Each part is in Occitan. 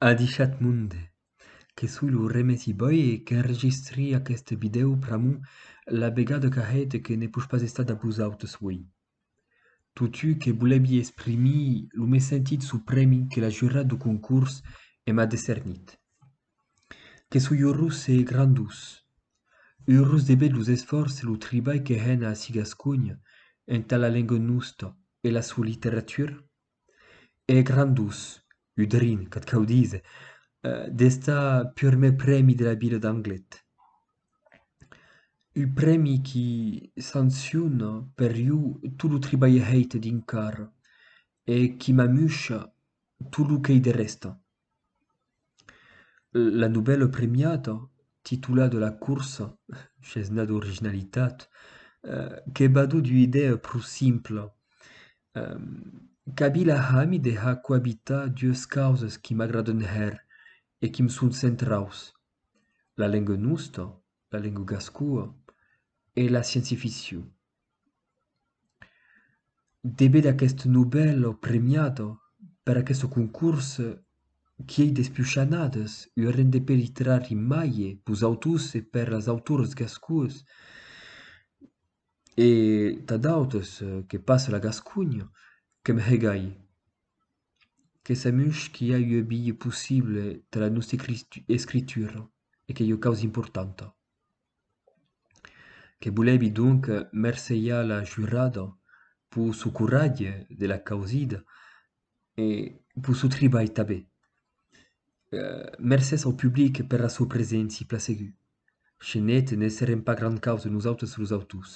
Adishat monde, que soi lo Remesi Boy e qu'enregistri aqueste vidèo pr'amor la vegada qu'arrèt e que ne push pas estar dab vosautres uèi. Totjou que volevi exprimir lo mes sentit sou prèmi que la jurat dau concors e m'a decernit. Que soi urós e grandós. Urós de ved los esfòrç e lo tribalh que hèn ací Gasconha entà la lenga nosta e la sua literatura. E gran dus, udrin, qu'ac cau díser, d'estar purmèr prèmi de la vila d'Anglet. Un prèmi qui sanciona per iu tot lo tribalh hèit dinc carra e qui m'amusha tot lo qu'ei de rèsta. La novèla premiada, titulada La Corsa, chesnada d'originalitat, que va d'ua idèa pro simpla. Kabila hami de har coabitar dues causas qui m'agradan hèr e quim son centraus, la lenga nosta, la lenga gascoa, e la scienci-ficcion. Debet aqueth Nobel o premiat per aqueth concors qu'ei des pius shanhades, ua renda per literari maie pus autors e per es autores gascons e tà d'autes que pas la Gasconha, que me hegai. Que samush qu'i a ua bia possible tà la nòsta escritura e qu'ei ua causa importanta. que volèvi donc mercelhar la jurada pus su coratge de la causida e pus su tribalh tanben. Mercés au public per la sua preséncia plaseguda. Chez net ne serem pas grand causa nosautres los autors.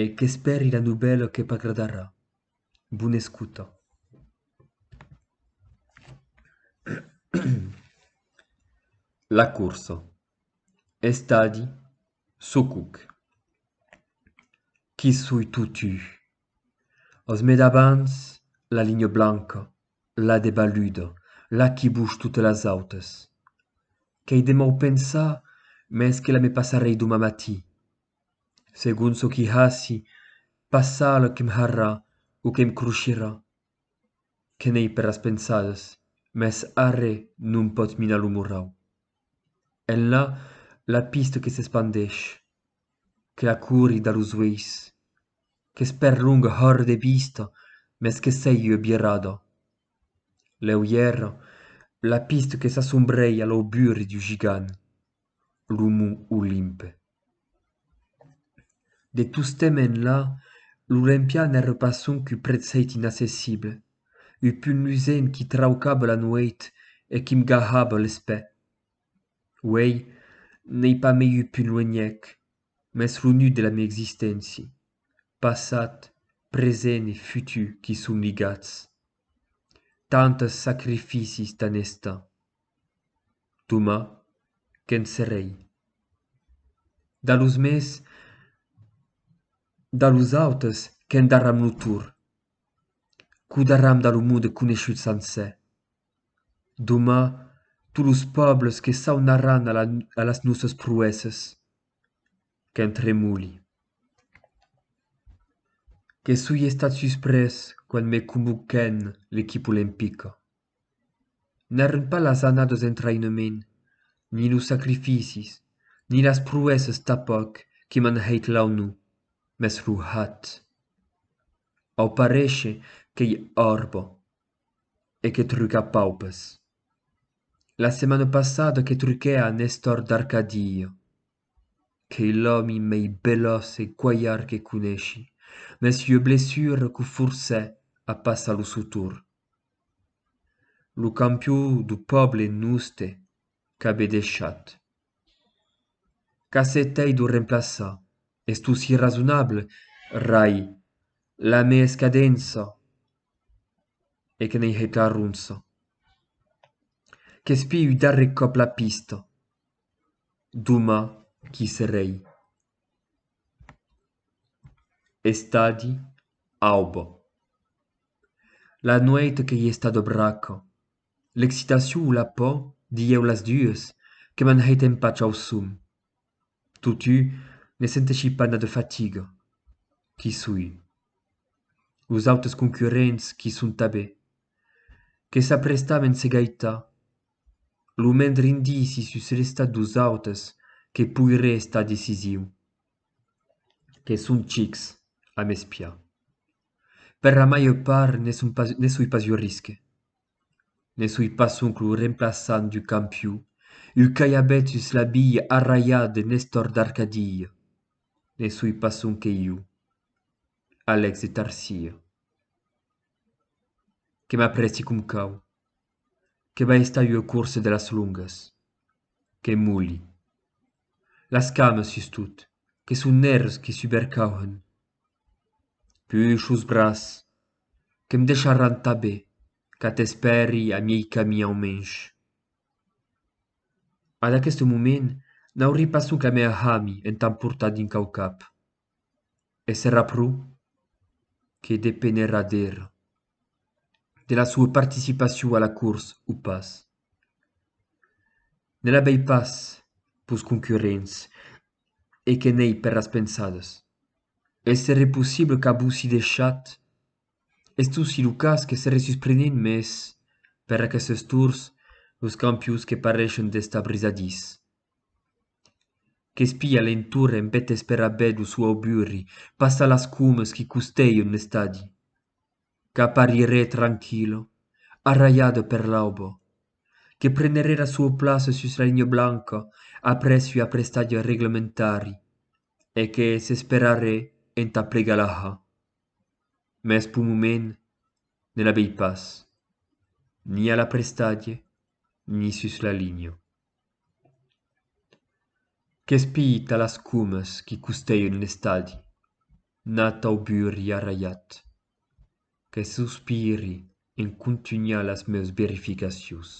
E qu'espèri la novèla que p'agradarà. Bona escuta. La corsa. Estadi, çò qu'òc. Qui soi totu. As mai d'abans la linha blanca, la de baluda, la qui bush totes las autes. Qu'ei de mau pensar, mès que la me passarei doma matí. segon çò qui hasi passar lo que'm harrà o que'm crochirà. Que n'ei per las pensadas, mès arre non pòt minar lo morrau. Enlà la pista que s'espandeish, que la cori da los ueis, qu'es perlonga hòr de vista mès que sei ua birada. Lèu ièra, la pista que s'assombreia l'auburi du gigant. lo mont Olimpe. De tostemp enlà, l'Olimpian èra pas sonque prètzhèit inaccessible, ua pun lusent qui traucava la nuèit e qui m'gahava l'espè. Uèi, n'ei pas mei ua pun luenhèc, mès lo nut de la mia existéncia, passat, present e futur qu'i son ligats. Tantes sacrificis tan estan. Toma que'n serrei. Da los mès, da los autes que'n darram lo tor, qu'o darram da lo monde coneishut sancè. Doma tot los pòbles que s'aunarran a las nòsas proèsses, que'n tremoli. Que soi estat susprés quand me convoquèn l'equipa olimpica. n'èran pas las annadas d'entraïnament ni los sacrificis ni las proèssas tanpauc que m'an hèit l'aunor mès lo hèt au paréisher qu'ei òrbo e que truca paupes la setmana passada que truquè a nestor d'arcadia Qu'ei l'òmi mei belós e cualhard que coneshi, mès ua blessura qu'o forcè a passar lo sotur. Lo campió do pòble noste qu'abe deishat. Qu'a se t'ei d'o remplaçar, es tu si rasonable, rai, la me escadença e que n'ei hèt la ronça. Qu'espiu darrè còp la pista. d'Oma qui se rei. Estadi auba. La nuèit qu'ei estada braca, l'excitacion o la paur, dieu las dues, que m'an hèit empach au som. Totú, ne senteshi pas na de fatiga. Qui soi? Los autes concurrents qui son tabé? Que s'aprestamen se gaitar lo mendre indici sus l'estat dos autes que poiré estar decisiu, que son chics, a m'espiar. Per la màger part ne soi pas un risque. Ne soi pas sonque lo remplaçant du campiu, un calhabèt sus la bilha arralhat de Nestor d'Arcadilha, ne soi pas sonque iu, Alex de Tarsier, que m'aprèsti com cau. que va estar ua corsa de las longas. Que moli. Las cames, sustot, que son nèrres qui subercauhen. Puish los braç, que'm deisharàn tanben qu'ath espèri a miei camins au mensh. Ad aqueste moment n'aurí pas sonque mèr hami entà portar dinc au cap. E serà pro? Que depenerà d'era. de la soa participacion a la cors o pas. Ne la vei pas pus concurrents e que n'ei per las pensadas. Es seré possible qu'avossi deishat estossi lo cas que seré susprenent mes per aquestes tors los campions que pareishen d'estar brisadís. Qu'espia l'entorn en bèth esperabèth lo suau burri passar las comes qui costèion l'estadi. Qu'aparirè tranquilo, arralhado per l'aubo. Que prenerè la sua plaça sus la linha blanca après ua prestatge reglementari e que s'esperarè entà plegar la ha. Mès p'un moment ne la vei pas, ni a la prestatge ni sus la linha. Qu'es piit a las comes qui costèion l'estadi, nat au burri arralhat, que sospiri en contunhar las meus verificacions.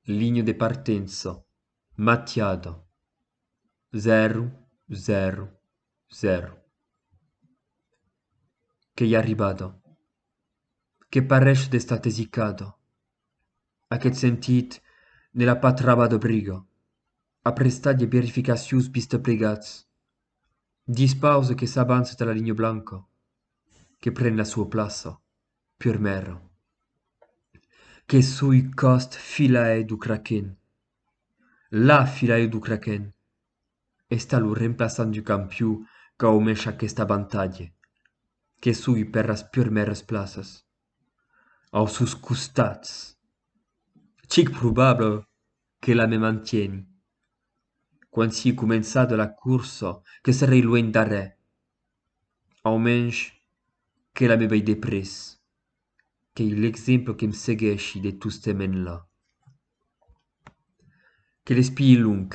Linha de partença, matiada, zèro, zèro, Zèro. Qu'ei arribada. Que pareish d'estar tesicada. Aqueth sentit ne l'a pas trabada de briga. A prestar de verificacions bisteplegats. Dispause que s'avança tà la linha blanca. Que pren la sua plaça. Pur mèra. Que soi còst filaèt d'o craquèn. La filaèt d'o craquèn. Esta lo remplaçant du campiu qu'aumesh aquesta bantalhe, que sugui per las purmères plaças. Au sus costats. Chic probable que la me mantieni. Quan sii començada la corsa, que serei luenh darrè. Aumensh que la me vei de près. Qu'ei l'exemple que'm segueshi de tostements la. Que l'espii long,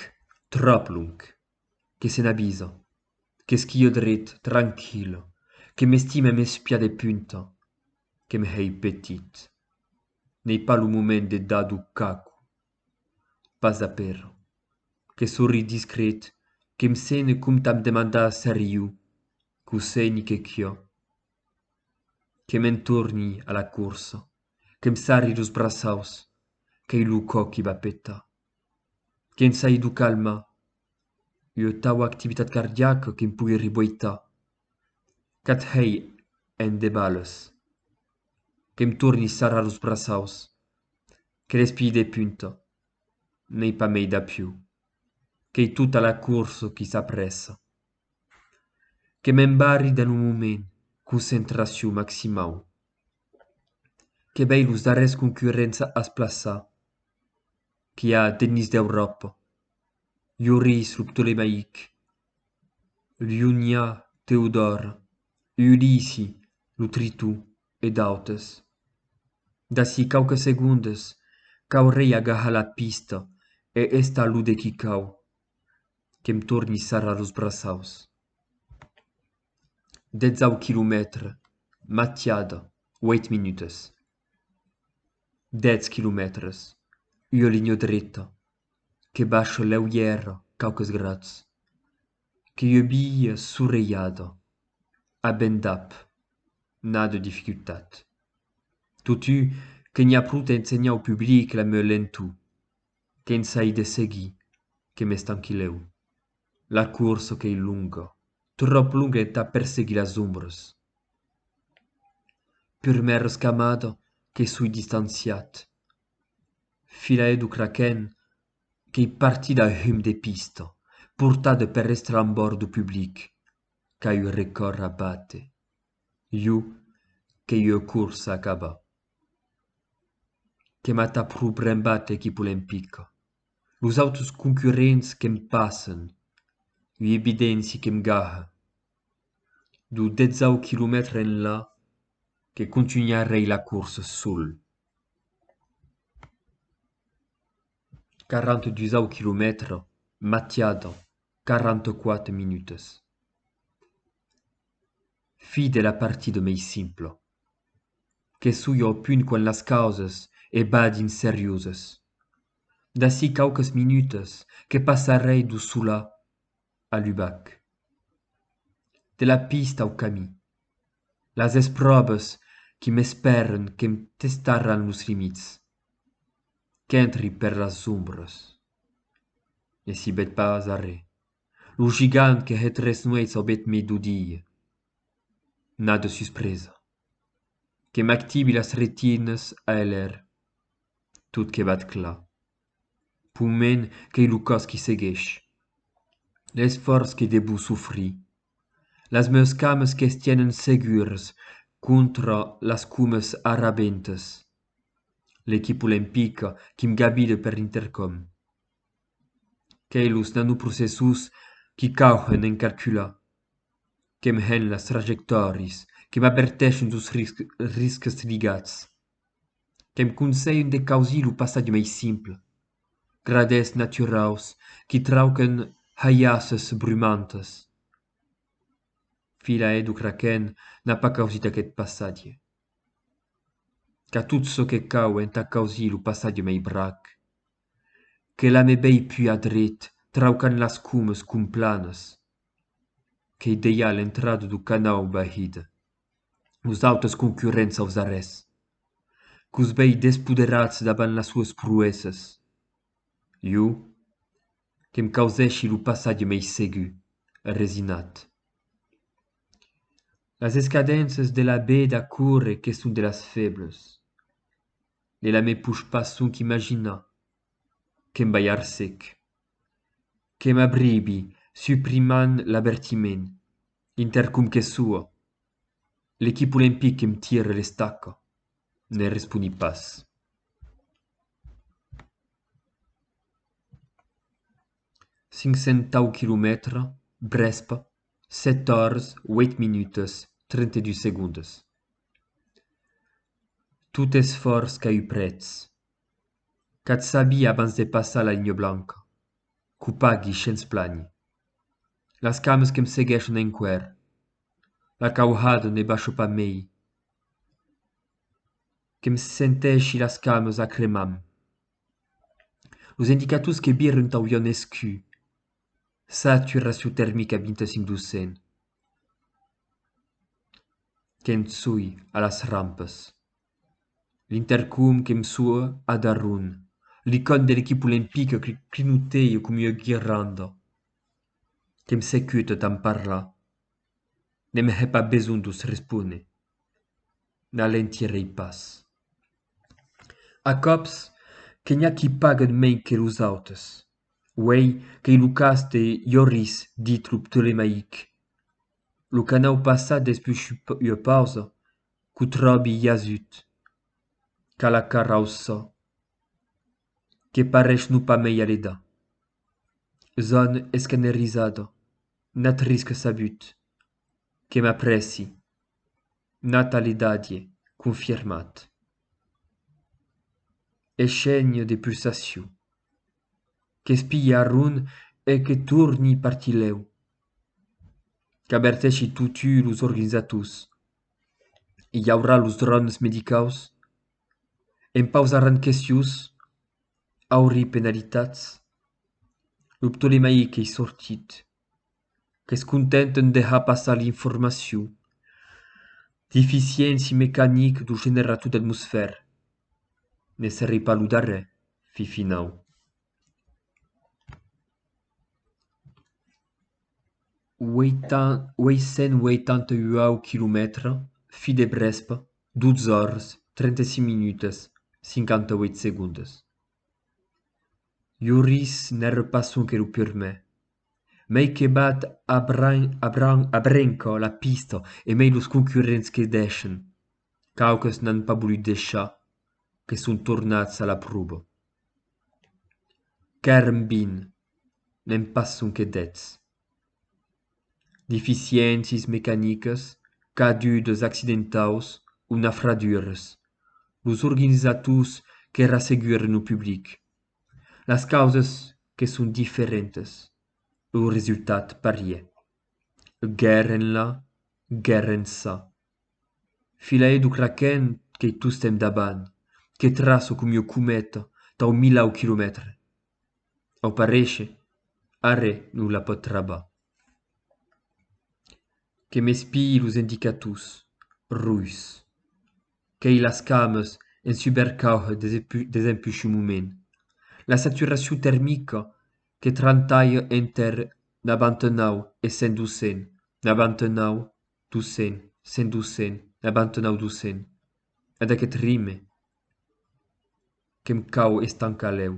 tròp long, que se n'avisa, qu'esquio dret, tranquil, que m'estime mes pias de punta, que me hèi petit. N'ei pas lo moment de dar d'o caco. Pas d'apèra. Que sorri discret, que em sene com t'am demandar seriu, qu'o sei ni que quiò. Que m'en torni a la corsa. que'm sarri los braçaus qu'ei lo cò qui va petar que'm sai d'o calmar ua taua activitat cardiaca que'm pogui riboitar qu'ath hèi en de balhs que'm torni sarrar los braçaus que l'espilh de punta n'ei pas mei d'apiu qu'ei tota la corsa qui s'aprèssa que m'embarri dan lo moment concentracion maximau. Que vei los darrers concurrents ath plaça qu'i a d'ennis d'Euròpa, Lloris lo Ptolemaic, Llunyà Teodòr, Ulisi lo Tritó e d'autes. D'ací quauques segondes qu'aurei agahar la pista e estar lo de quicau, que'm torni sarrar los braçaus. dètzau quilomètre matiada uèit minutas dètz quilomètres ua linha dreta que baixa lèu i èra quauques grats que ua via sorelhada a ben dab n'a de dificultat totu que n'i a pro t'ensenhar au public la meu lentu Que'n sai de seguir que m'estanquilèu. La coursa qu'ei longa, tròp longa entà perseguir las ombras. Prumèr rescamada que soi distanciat. Filaire du Kraken qu'ei partit a hum de pista, portat per l'estrambòrd du public qu'a eu recòr a bate. Jo qu'ei eu coursa acabà. que m'at a pro brembat equip olimpica los autres concurrents que'm passen ui evidenti que'm gaha lo detzau quilomètre enlà que contunharei la corsa sol 42 au quilomètre matiada 44 minutas fi de la partida mei simpla Que soi au punt quan las causas e badin seriusas. D'ací quauques minutas que passarrei d'o solar a l'ubac. De la pista au camí. Las espròvas qui m'espèran que'm testaràn los limits. Qu'entri per las ombras. Ne sibèt pas arré. Lo gigant que hè tres nueits aubèt mai d'o dire. N'a de suspresa. Que m'actibi las retines a eler tot que bat clar. Poment qu'ei lo cas qui segueish. L'esfòrç que debú sofrir. Las meus cames que's tienen segures contra las comes arrabentes. L'equipa olimpica qui'm gabide per l'intercòm. qu'ei los nanoprocessors qui cauhen en calcular qu'èm hènt las trajectòrias que m'averteixen sos risques ligats qu'èm conselhen de causir lo passatge mai simple gradèths naturaus qui trauquen halhasses brumantes fila edu kraken n'a pas causit aqueth passatge qu'a tot çò que cau entà causir lo passatge mai brac Que la me bèi pua dret, traucant las cumes complanas, qu'ei dejà a l'entrada do canau Bahida. Los autes concurrents aus arrés. Qu'us bèi despoderats davant las sues pruèsas. Iu, que'm causèshi lo passatge mei segur, resinat. Las escadences de la bèda córrer que son de las febles. Ne la me push pas sonc imaginar que'm vai ar sec. Que m'abribi, suprimant l'avertiment, inter com que soa. L'equip olimpic que'm tire l'estaca. Ne responi pas. Cinc cent tau quilomètres, Brèspa, sèt ors, ueit minutas, trenta-dus segondas. Tot esfòrç qu'a eu prètz. Qu'ath sabi abans de passar la linha blanca. Qu'o pagui shens plànher. Las cames que me seguèshon enqüèr. La cauhada ne basho pas mei. Que me sentèshi las cames a cremar-m. Los indicators que viren t'auion escu. Satura sotèrmica 25 200. que'm soi a las rampes. L'intercom que'm soa a Darun. L'icòne de l'equipe olimpica que clinotèia coma ua guirlanda. Que'm secuta tant parlar. Ne me hè pas besonh d'os responer. N'alentirei pas. A còps que n'i a qui paguen mei que los autes. Uèi qu'ei lo cas de Iorris dit lo Ptolemaic, lo canau passat despús ua pausa, qu'o tròbi jasut, qu'a la cara au sò, que parèish non pas mei aleda. Son escanerizada, n'at risc sabut, que m'aprèci. Natalidadie confirmat. E chènho de pulsacion. Qu'espilhe arron e que torni partilhèu. Qu'averteshi totu los organizators. I aurà los dròns medicaus? E'n pausaràn questions? Aurí penalitats? Lo ptolemaic ei sortit. qu'es content en dejar passar l'informacion d'eficiéncia mecanic dau generator d'atmosfèr. Ne serei pas lo darrèr, fifinau. Uèi-cent-uèitanta-uau quilomètres, fi de Brèspa, 12 ores, 35 minutas, 58 segondas. Lloris n'ère pas sonque lo purmèr, mei que bat a brenca la pista e mei los concurrents que deishen. Quauques n'an pas volut deishar, que son tornats a la prova. Qu'èrem vint, n'èm pas sonque dètz. Deficiéncies mecanicas cadudas accidentaus o nafradures. Los organizators que rasseguren lo public. Las causas que son diferentas, lo resultat parièr. Guèrra enlà, guèrra ençà. Filaire d'o craquènt qu'ei tostemp davant, que traço com ua cometa tau milau quilomètres. au paréisher, arrè non la pòt trabar. Que m'espii los endicators, ruis. Qu'ei las cames en subercauhe des empushumuments, la saturacion termica que trantalhe enter nabantenau e cent docent, nabantenau, docent, cent docent, nabantenau docent, ad aqueth rime. que'm cau estancar lèu.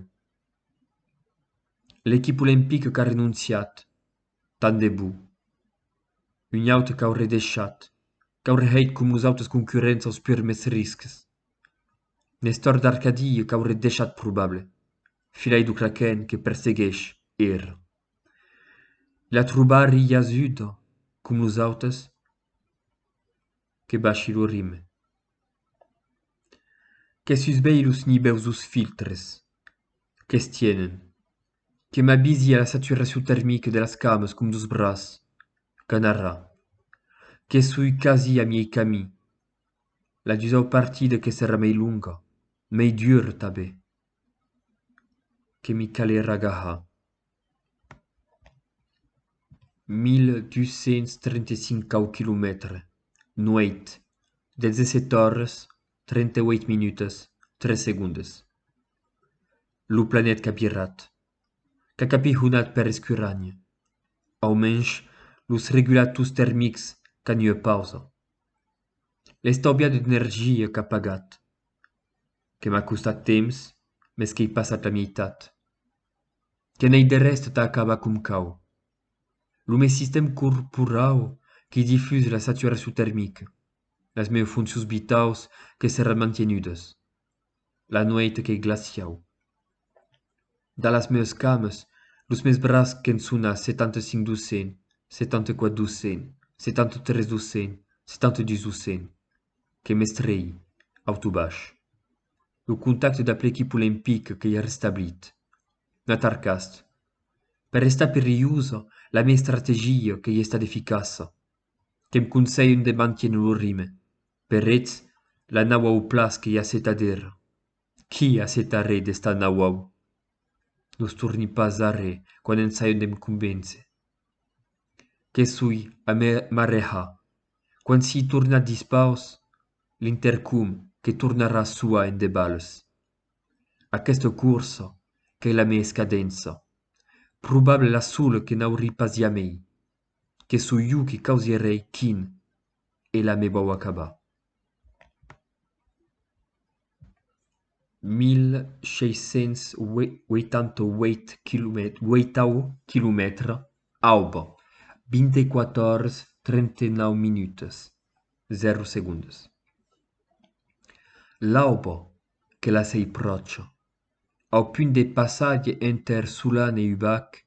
L'equip olimpique qu'a renonciat, tant de bo. Un aute qu'auré deishat, qu'auré hèit com los autes concurrents aus purmets risques. Nestor d'Arcadie qu'auré deishat probable, filai lo craquen que persegueish era. La trobarri jasuda com los autes que bashi lo rime. Que sus bèi los nibeusos filtres que's tienen, que m'abisi a la saturacion termique de las cames com dos braç qu'anarra, que soi quasi a miei camin, la dusau partida que serà mei longa, mei dura tanben, que mi calerà gahar. 1235 cau quilomètres nuèit 17 oras 38 minutas 3 segondes lo planet capirat qu'a capihonat per escuragn au mensh los regulators termics qu'a nue pausa l'estaubia d'energia qu'a pagat que m'a costat temps mes qu'ei passat la mieitat que n'ei de rèst tà acabar com cau. Lo me sistèm corporau que difús la saturacion termica, las meus foncions vitaus que seràn mantenudas, la nuèit qu'ei glaciau. Dà las meus cames, los mes braç qu'en son a 75 doscen, 74 doscen, 73 doscen, 72 doscen, que m'estrèi, autobach. lo contacte dab l'equip olimpic qu'ei restablit. N'a tarcast. Per restar perilhosa, la mia estrategia qu'ei estat eficaça. Que'm conselhen de manténer lo rime. Per eth, la nau au plas qu'ei acetadera. Qui aceta re d'esta nau au? Nos torni pas arre quan ensayon d'e'm convéncer. Que soi a me marrejar. Quand s'i torna dispaus, l'intercom que tornarà soar en de balhs. Aquesta corsa qu'ei la mei escadença. Probable la sola que n'aurí pas jamei. Que soi jo qui causierei quin e la me vau acabar. 1.688 quilomètres aub. 24:39. 00. L'aub que la sei pròche, au punt de passatge enter Solan e Ubac,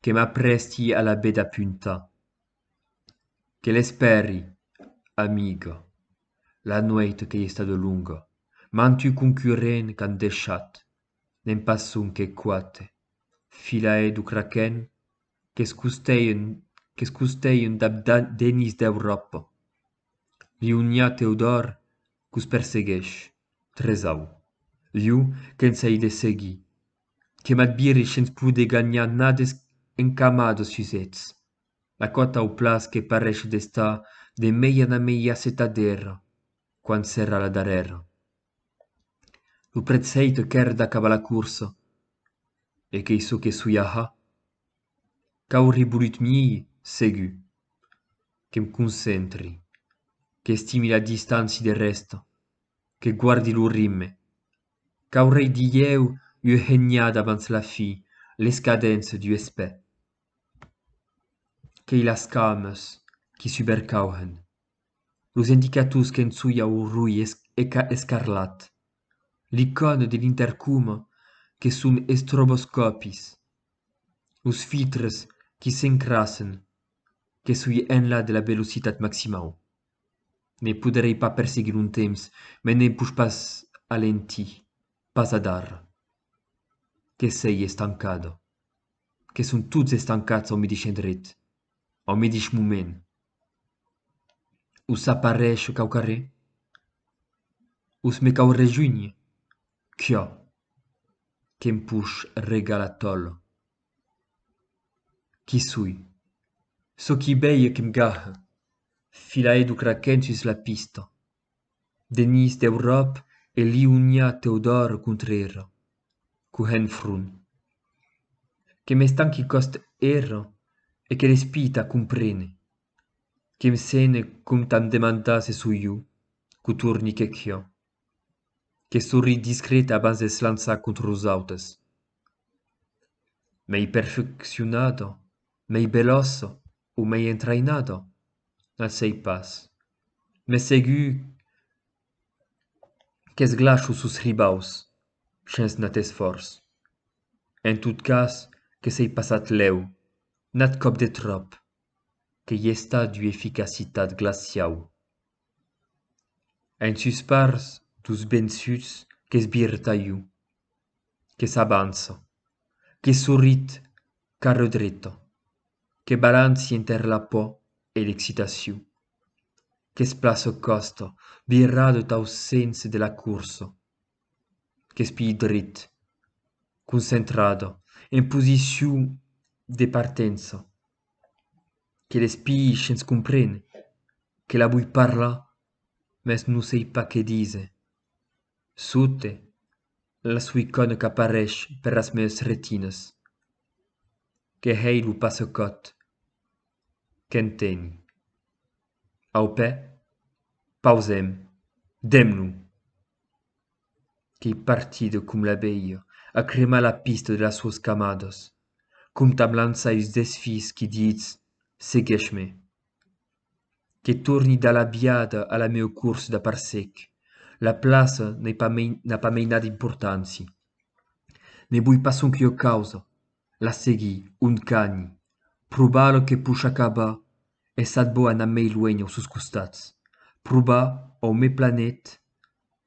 que m'aprèsti a la beda punta. Que l'espèri, amiga, la nuèit qu'ei estada longa, mantu concurrent qu'an deishat, ne'n pas sonque quate, filaire du craquen qu'es costeien, qu'es costeien dab Denis d'Euròpa, Lioniá Teodòr qu'os persegueish, tresau, iu que'ns ei de seguir, que m'adbiri shens poder ganhar nades encamadas sus eths, La còta au plàs que pareish d'estar de meia na meia setadèra quan s'èra la darrèra. Lo prèt sei que qu'èr d'acabar la corsa e qu'ei çò que soi aja. Qu'auri bolut miei, segur, que'm concentri, qu'estimi la distància de rèsta, que guardi lo rimme, qu'aurei dilhèu ua henhada abans la fi, l'escadença d'ua espè. qu'ei las cames qui subercauhen, los indicators qu'ençuia o roi escarlat, l'icòne de l'intercoma que son estroboscòpis, los filtres qui s'encrassen que soi enlà de la velocitat maximau. Ne poderei pas perseguir un temps, me ne push pas alentir, pas adar que sei estancada. que son tots estancats au midish endret, au midish moment. Us apareisho qu'au carrer? Us me cau rejunhir? Quia, que'm push regal a tòl. Qui soi? Çò qui bèi e que'm gaha, filaedo craquent sus la pista. Denís d'Euròp e liuniá Teodòr contre era, cohènt front. Que m'estanqui cost era e que l'espit a comprene, que me sene com tan demandàs e soiu, qu'o torni quequiò. Que sorri discreta abans de s'lançar contre los autes. Mei perfeccionada, mei belòsa. o mei entraïnada, al sei pas, mes segur qu'esglacho sos ribaus shens nat esfòrç. En tot cas que sei passat lèu, nat còp de tròp, que i estat d'ua eficacitat glaciau. En sus parts dus bensuts qu'esbirta iu, que s'avança, que sorrit cara dreta, que balanci enter la paur e l'excitacion, qu'es plaça còsta virada tau sens de la corsa, qu'es pií dret, concentrada, en posicion de partença, que l'espii shens comprene que la voi parlar mès non sei pas qué dise sote la soicona qu'apareish per las meus retinas que hei lo passacòt qu'enteni au pè pausem demb lo qu'ei partida com l'abelha a cremar la pista de las suas camadas, com t'am lançar us desfís qui ditz, segueish-me. Que torni da la biada a la meu cors da parcec, la plaça n'ei pas mei n'a pas mei nada importanci. Ne voi pas sonque ua causa, la seguir, ont cani, probar lo que push acabar, e sat bo anar mei luenh au sos costats, probar au me planet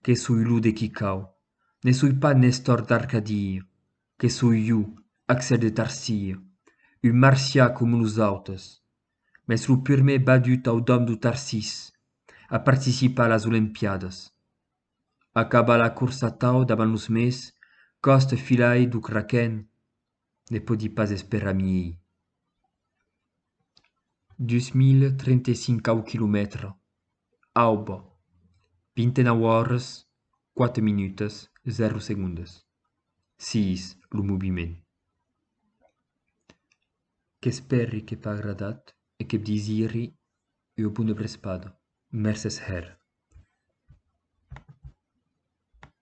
que soi lo de qui cau, ne soi pas Nestor d'Arcadia, que soi jo, Axel de Tarsia, un marsià com los autes, mes lo purmè badut au dòm do Tarsís a participar a las Olimpiadas. Acaba la corsa tau davant los mes, coste filai do craquèn, Ne pòdi pas esperar miei. 2035 km Aube, 29 ores 4 minutas 0 segondas. Siis lo moviment. Qu'espèri que t'a agradat e que bdisiri ua bona brespada. Mercés hèr.